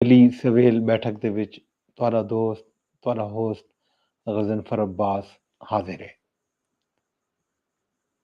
Valley سویل بیٹھک دے وچ تہاڈا دوست تہاڈا ہوسٹ غضنفر عباس حاضر ہے۔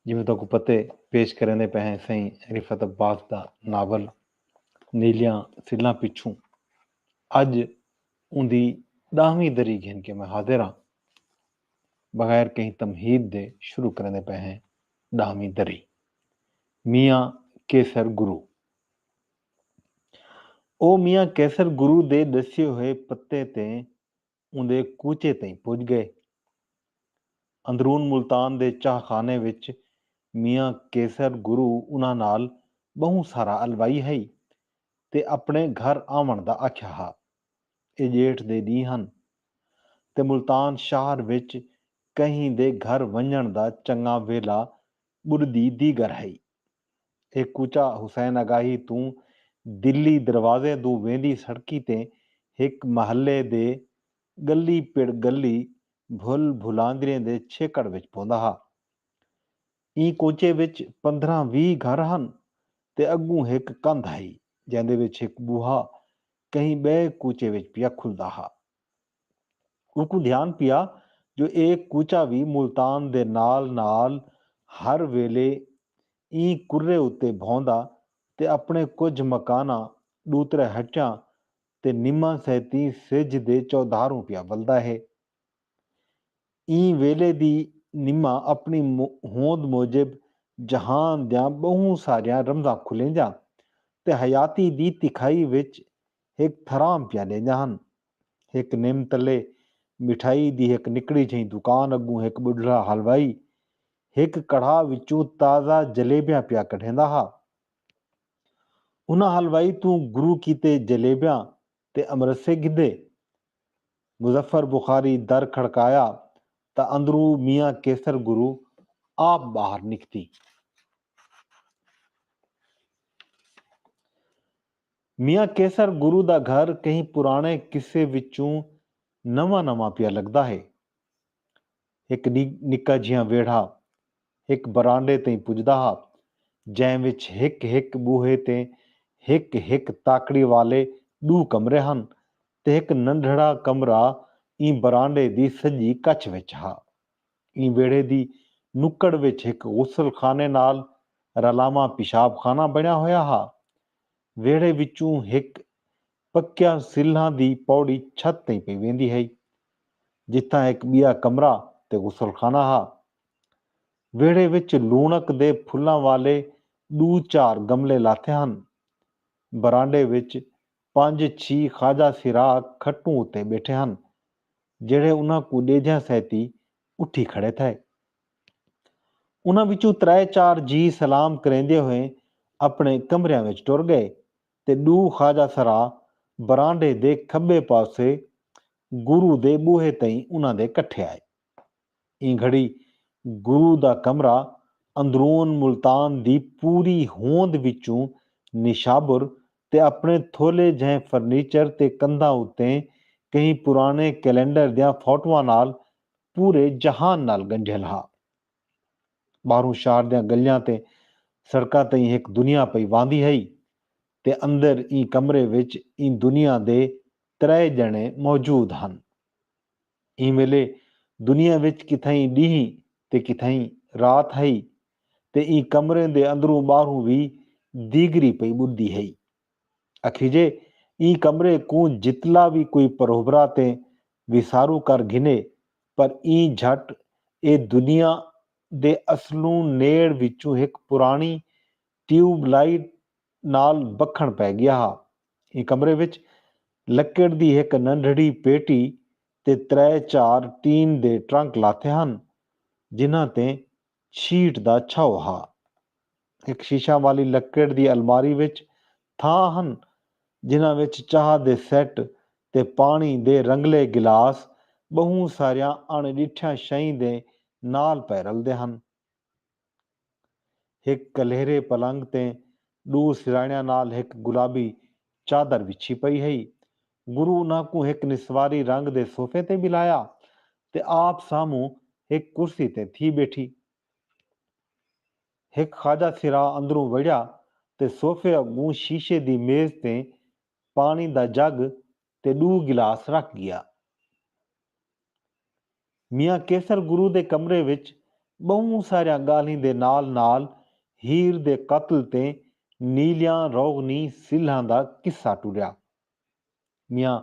جیویں تہاکوں پتہ ہے پیش کریندے پئے ہیں سئیں رفعت عباس دا ناول نیلیاں سلاں پچھوں اج اوندی ݙاہویں دری گھن کے میں حاضر ہاں بغیر کہیں تمہید دے شروع کریندے پئے ہیں ݙاہویں دری میاں کیسر گرو او میاں قیصر گرو دے ݙسیے ہوئے پتے تے اوندے کوچے تئیں پڄ ڳئے۔ اندرون ملتان دے چاہ خانے وچ میاں قیصر گرو انہاں نال ٻہوں سارا الوائی ہئی تے اپݨے گھر آوݨ دا آکھیا ہا۔ اے ڄیٹھ دے ݙینہ ہن تے ملتان شہر وچ کہیں دے گھر ونڄݨ دا چنڳاں ویلھا ٻݙدی دیگر ہئی۔ اے کوچہ حسین اگاہی توں دلی دروازے دو ویندی سڑکی تے ہک محلے دے ڳلی پڑ ڳلی بھل بھلاندریں دے چھیکڑ وچ پوندا ہا۔ ایں کوچے وچ پندرھاں ویہہ گھر ہن تے اڳوں ہک کندھ ہئی جیندے وچ ہک ٻوہا کہیں ٻئے کوچے وچ پیا کھلدا ہا۔ اونکوں دھیان پیا جو اے کوچہ وی ملتان دے نال نال ہر ویلے ایں کرے اتے بھوندا تے اپنے کجھ مکاناں، ݙوترے ہٹیاں تے نماں سیتیں سجھ دے چودھاروں پیا ولدا ہے۔ ایں ویلے دی نماں اپنی ہوند موجب جہان دیاں ٻہوں ساریاں رمزاں کھلیندیاں تے حیاتی دی تکھائی وچ ہک پھرام پیا ݙیندا ہن۔ ہک نم تلے مٹھائی دی ہک نکڑی جھئیں دکان اڳوں ہک ٻڈھڑا حلوائی ہک کڑھا وچوں تازہ جلیبیاں پیا کڈھیندا ہا۔ انہاں حلوائی توں گرو کیتے جلیبیاں تے امرسے گھدے۔ مظفر بخاری در کھڑکایا تاں اندروں میاں قیصر گرو آپ ٻاہر نکتی۔ میاں قیصر گرو دا گھر کہیں پراݨے قصے وچوں نواں نواں پیا لڳدا ہے۔ ہک ݙینہہ نکا جھیاں ویڑھا ہک برانڈے تئیں پڄدا ہا جئیں وچ ہک ہک ٻوہے تے ہک ہک تاکڑی والے ݙو کمرے ہن تے ہک ننڈھڑا کمرہ ایں برانڈے دی سڄی کچھ وچ ہا۔ ایں ویڑھے دی نکڑ وچ ہک غسل خانے نال رلاواں پیشاب خانہ بݨیا ہویا ہا۔ ویڑھے وچوں ہک پکیاں سلھاں دی پوڑی چھت تئیں پئی ویندی ہئی، جتھاں ہک ٻیا کمرہ تے غسل خانہ ہا۔ ویڑھے وچ لوݨک دے پھلاں والے ݙو چار گملے لاتھے ہن۔ برانڈے وچ پنج چھی خواجہ سراغ کھٹوں اتے ٻیٹھے ہن۔ جیڑھے انہاں کوں ڈیجھاں سہتی اٹھی کھڑے تھئے۔ انہاں وچوں ترائے چار جی سلام کریندے ہوئے اپنے کمریاں وچ ٹر گئے تے ڈو خواجہ سرا برانڈے دے کھبے پاسے گرو دے بوہے تئیں انہاں دے کٹھے آئے۔ ایں گھڑی گرو دا کمرہ اندرون ملتان دی پوری ہوند وچوں نشابر تے اپݨے تھولے جہیں فرنیچر تے کندھاں اتے کہیں پراݨے کیلنڈر دیاں فوٹواں نال پورے جہان نال ڳنڈھیل ہا۔ ٻاہروں شہر دیاں ڳلیاں تے سڑکاں تئیں ہک دنیا پئی واندی ہئی تے اندر ایں کمرے وچ ایں دنیا دے ترائے ڄݨے موجود ہن۔ ایں ویلے دنیا وچ کتھائیں ݙینہہ تے کتھائیں رات ہئی تے ایں کمرے دے اندروں ٻاہروں وی دیگری پئی ٻݙدی ہئی۔ اکھیجے ایں کمرے کوں جتلا وی کوئی پروبھرا تے وسارو کر گھنے پر ایں جھٹ اے دنیا دے اصلوں نیڑ وچوں ہک پراݨی ٹیوب لائٹ نال بکھݨ پئے ڳیا ہا۔ ایں کمرے وچ لکڑ دی ہک ننڈھڑی پیٹی تے ترے چار ٹین دے ٹرنک لاتھے ہن جنہاں تے شیٹ دا چھو ہا۔ ہک شیشاں والی لکڑ دی الماری وچ تھاں ہن جنہاں وچ چاہ دے سیٹ تے پاݨی دے رنگلے گلاس ٻہوں ساریاں اݨ ݙٹھیاں شئیں دے نال پئے رلدے ہن۔ ہک کلہرے پلنگ تے ݙو سرہاݨیاں نال ہک گلابی چادر وچھی پئی ہئی۔ گرو انہاں کوں ہک نسواری رنگ دے صوفے تے ٻلھایا تے آپ سامھوں ہک کرسی تے تھی ٻیٹھی۔ ہک خواجہ سرا اندروں وڑیا تے صوفے اڳوں شیشے دی میز تے پاݨی دا جڳ تے ݙو گلاس رکھ ڳیا۔ میاں قیصر گرو دے کمرے وچ ٻہوں ساریاں ڳالھیں دے نال نال ہیر دے قتل تے نیلیاں روغنی سلھاں دا قصہ ٹریا۔ میاں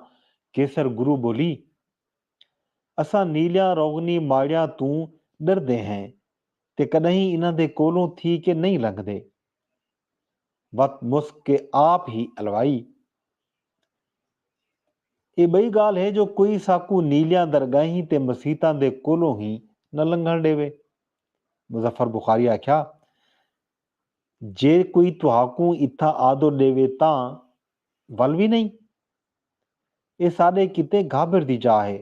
قیصر گرو ٻولی، اساں نیلیاں روغنی ماڑیاں توں ݙردے ہیں تے کݙاہیں انہاں دے کولوں تھی کے نئیں لنگھدے۔ وت مسک کے آپ ہی الوائی۔ اے بئی گالھ ہے جو کوئی ساکوں نیلیاں درگاہیں تے مسیتاں دے کولوں ہی نہ لنگھن ڈیوے۔ مظفر بخاری آکھیا جے کوئی تہاکوں اتھاں آدو ڈیوے تاں ول وی نئیں۔ اے ساڈے کیتے گھابر دی جاہ ہے۔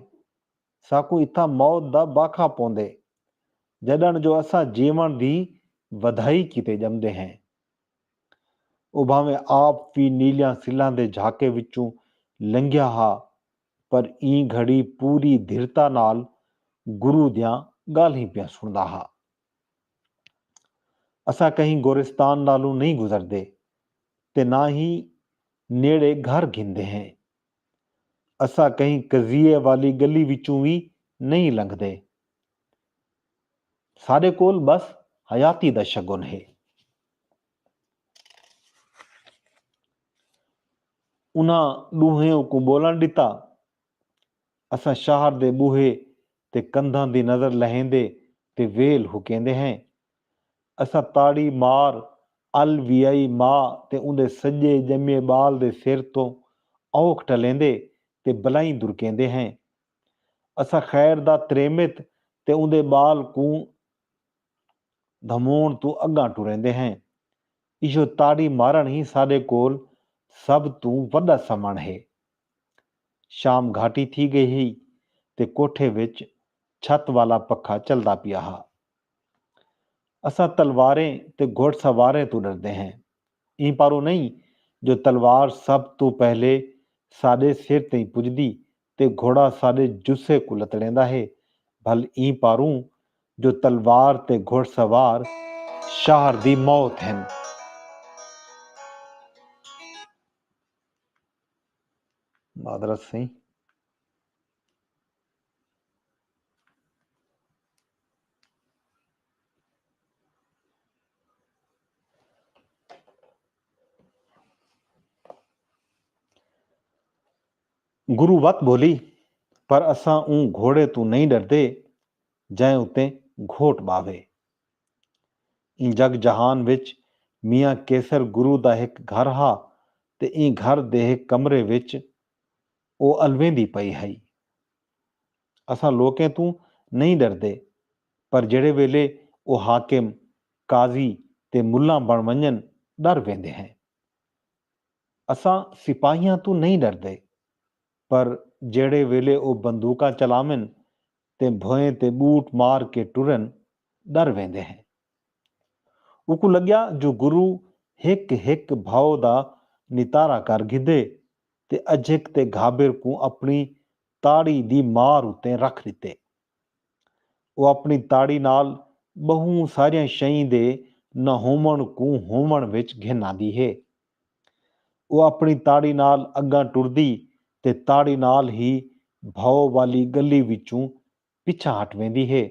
ساکوں اتھاں موت دا باکھا پوندے جݙݨ جو اساں جیوݨ دی ودھائی کیتے ڄمدے ہیں۔ او بھانویں آپ وی نیلیاں سلھاں دے جھاکے وچوں لنگھیا ہا پر ایں گھڑی پوری دھرتا نال گرو دیاں ڳالھیں پیا سݨدا ہا۔ اساں کہیں گورستان نالوں نئیں گزردے تے نہ ہی نیڑے گھر گھندے ہیں۔ اساں کہیں قضیے والی گلی وچوں وی نئیں لنگھدے۔ ساڈے کول بس حیاتی دا شگن ہے۔ انہاں ڈوہیں اوکوں بولن ڈتا۔ اساں شہر دے بوہے تے کندھاں دی نظر لہیندے تے ویل ہکیندے ہیں۔ اساں تاڑی مار ال ویائی ماء تے اوندے سڄے ڄمے ٻال دے سر توں اوکھ ٹلیندے تے بلائیں درکیندے ہیں۔ اساں خیر دا تریمت تے اوندے ٻال کوں دھموݨ توں اڳاں ٹریندے ہیں۔ ایہو تاڑی مارݨ ہی ساݙے کول سب توں وݙا سمݨ ہے۔ شام گھاٹی تھی ڳئی ہئی تے کوٹھے وچ چھت والا پکھا چلدا پیا ہا۔ اساں تلواریں تے گھوڑ سواریں توں ݙردے ہیں۔ ایں پاروں نئیں جو تلوار سب توں پہلے ساݙے سر تئیں پڄدی تے گھوڑا ساݙے جسے کوں لتڑیندا ہے بھل ایں پاروں جو تلوار تے گھوڑ سوار شاہر دی موت ہن۔ معذرت سئیں۔ گرو وت بھولی پر اساں اوں گھوڑے توں نئیں ڈردے جئیں اتے گھوٹ باوے۔ ایں جگ جہان وچ میاں کیسر گرو دا ہک گھر ہا تے ایں گھر دے ہک کمرے وچ او الویندی پئی ہئی۔ اساں لوکیں توں نئیں ݙردے پر جیڑھے ویلے او حاکم، قاضی تے ملاں بݨ ونڄن ݙر ویندے ہیں۔ اساں سپاہیاں توں نئیں ݙردے پر جیڑھے ویلے او بندوقاں چلاون تے بھوئیں تے ٻوٹ مار کے ٹرن ݙر ویندے ہیں۔ اوکوں لڳیا جو گرو ہک ہک بھاؤ دا نتارا کر گھدے تے اجھک تے گھابر کوں اپݨی تاڑی دی مار اتے رکھ ݙتے۔ او اپݨی تاڑی نال ٻہوں ساریاں شئیں دے نہ ہووݨ کوں ہووݨ وچ گھن آندی ہے۔ او اپݨی تاڑی نال اڳاں ٹردی تے تاڑی نال ہی بھئو والی ڳلی وچوں پچھاں ہٹ ویندی ہے۔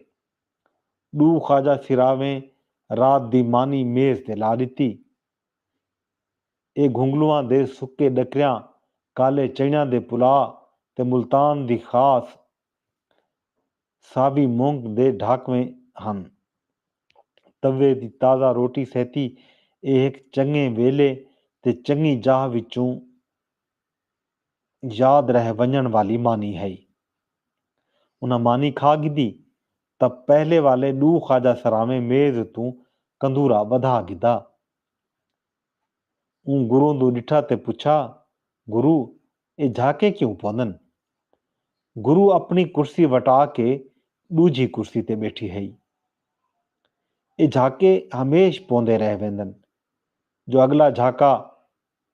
ݙو خواجہ سراویں رات دی مانی میز تے لا ݙتی۔ اے گھنگلواں دے سکے ݙکریاں، کالے چݨیاں دے پلا تے ملتان دی خاص ساوی مونگ دے ڈھاکویں ہن۔ توے دی تازہ روٹی سیتی اے ہک چنگیں ویلے تے چنگی جاہ وچوں یاد رہ ونڄݨ والی مانی ہئی۔ انہاں مانی کھا گھدی تاں پہلے والے ݙو خواجہ سراویں میز اتوں کندورا ٻدھا گھدا۔ اوں گروں دو ݙٹھا تے پچھا، گرو اے جھاکے کیوں پوندن؟ گرو اپݨی کرسی وٹا کے ݙوجھی کرسی تے ٻیٹھی ہئی۔ اے جھاکے ہمیش پوندے رہ ویندن۔ جو اڳلا جھاکا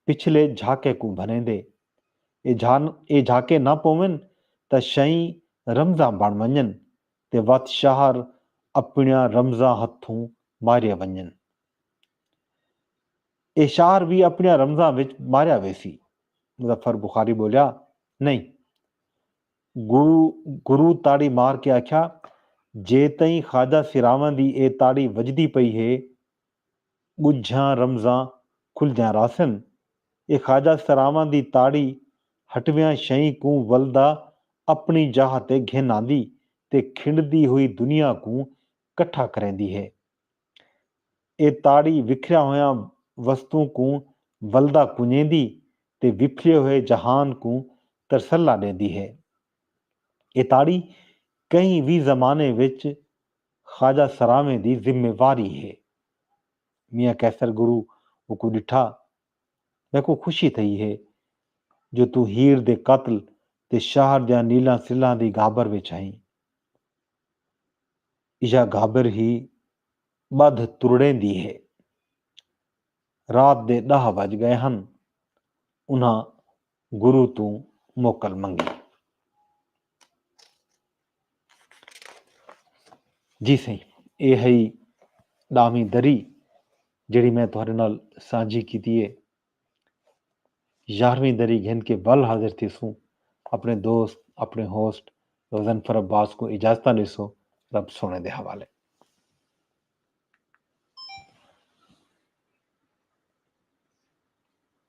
پچھلے جھاکے کوں بھریندے۔ اے جھان اے جھاکے نہ پوون تاں شئیں رمزاں بݨ ونڄن تے وت شہر اپݨیاں رمزاں ہتھوں مارئے ونڄن۔ اے شہر وی اپݨیاں رمزاں وچ ماریا ویسی۔ مظفر بخاری ٻولیا، نئیں۔ گرو گرو تاڑی مار کے آکھیا، جے تئیں خواجہ سراواں دی اے تاڑی وڄدی پئی ہے ڳجھاں رمزاں کھلدیاں رہسن۔ اے خواجہ سراواں دی تاڑی ہٹویاں شئیں کوں ولدا اپݨی جاہ تے گھن آندی تے کھنڈدی ہوئی دنیا کوں کٹھا کریندی ہے۔ اے تاڑی وکھریاں ہویاں وستوں کوں ولدا کنجیندی تے وپھلے ہوئے جہان کوں ترسلا ݙیندی ہے۔ اے تاڑی کہیں وی زمانے وچ خواجہ سراویں دی ذمہ واری ہے۔ میاں قیصر گرو اوکوں ݙٹھا، میکوں خوشی تھئی ہے جو توں ہیر دے قتل تے شہر دیاں نیلاں سلھاں دی گھابر وچ ہئیں۔ ایہا گھابر ہی ٻدھ ترڑیں دی ہے۔ رات دے ݙاہ وڄ ڳئے ہن۔ انہاں گرو توں موکل منگی۔ جی سائیں اے ہئی ڈاویں دری جیڑی میں تہاڈے نال سانجھی کیتی ہے۔ یارویں دری گھن کے ول حاضر تھیسوں۔ اپنے دوست اپنے ہوسٹ غضنفر عباس کو اجازتاں ڈیسو رب سونے دے حوالے۔